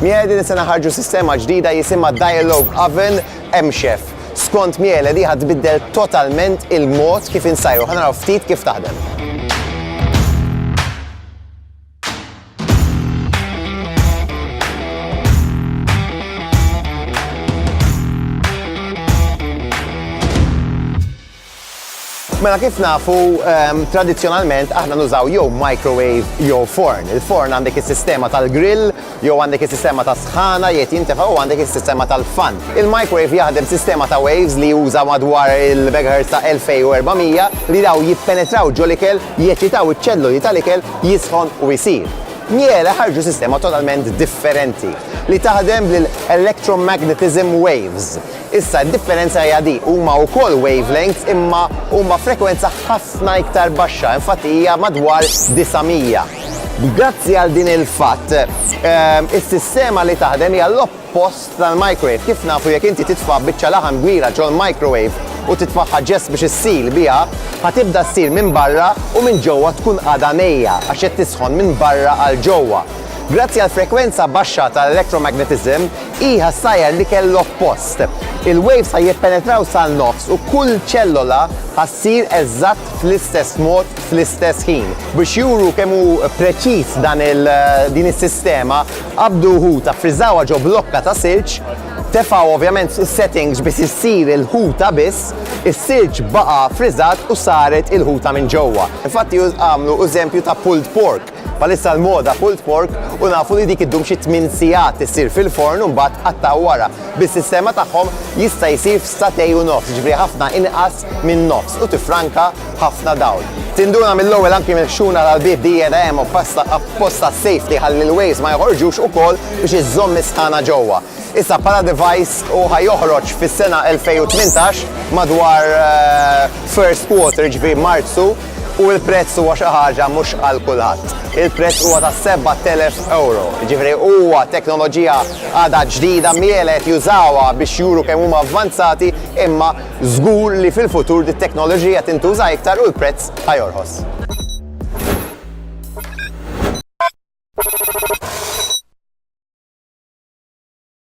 Miele din sena ħarġu sistema ġdida jisimha Dialogue Oven MChef. Skont Miele di ħadbiddel totalment il-mod kif insajru. Ħanaraw ftit kif taħdem. Mela kif nafu, ehm, tradizjonalment aħna nużaw jew microwave jew forn. Il-forn għandek is-sistema tal-grill Jew għandek is-sistema tas-sħana, jgħid jintefa' u għandek is-sistema tal-fan. Il-microwave jaħdem b'sistema ta' waves li juża madwar il-megahertz ta' 2400 li dawn jippenetraw ġol-ikel, jeċitaw iċ-ċelloli tal-ikel, jisħon u jsir. Miele ħarġu sistema totalment differenti li taħdem bl-electromagnetism waves. Issa d-differenza hija di, huma wkoll wavelengths imma huma frekwenza ħafna iktar baxxa, infatti hija madwar 900. Grazzi għal din il-fatt, is-sistema li taħdem hija l-oppost tal-microwave. Kif nafu jekk inti titfa' biċċa laħam kbira ġol-microwave u titfagħha ġest biex issil biha, ħa tibda ssir minn barra u minn ġewwa tkun għadha nejja għax qed tisħon minn barra għal ġewwa. Grazzi għall-frekwenza baxxa tal-electromagnetism, hi ħa ssajjar l-ikel l-oppost. Il-waves ħa jippenetraw sal-nofs u kull ċellola ħa ssir eżatt fl-istess mod, fl-istess ħin. Biex juru kemm hu preċiż dan il din is-sistema, qabdu ħuta, friżawha ġo blokka ta' silġ, tefgħu ovvjament is-settings biex issir il-ħuta biss, is-silġ baqa' friżat u saret il-ħuta minn ġewwa. Infatti għamlu eżempju ta' pulled pork. Bħalissa l-moda pulled pork u nafu li dik iddum xi tmien sigħat issir fil-forn u mbagħad tqattgħu wara. Bis-sistema tagħhom jista' jsir f'sagħtej u nofs, jiġifieri ħafna inqas minn nofs u tiffranka ħafna dawl. Tinduna mill-ewwel anki mill-ħxuna tal-bieb dieta hemm obpasta apposta safety ħalli l-waves ma joħorġux ukoll biex iżżomm is-sħana ġewwa. Issa bħala device hu ħa joħroġ fis-sena 2018 madwar first quarter jiġifieri Marzu U l-prezz huwa xi ħaġa mhux għal kulħadd. Il-prezz huwa ta' 7,000 ewro. Jiġifieri huwa teknoloġija għadha ġdida, m'iela qed jużawha biex juru kemm huma avvanzati, imma żgur li fil-futur dit-teknoloġija tintuża iktar u l-prezz ħa jorħos.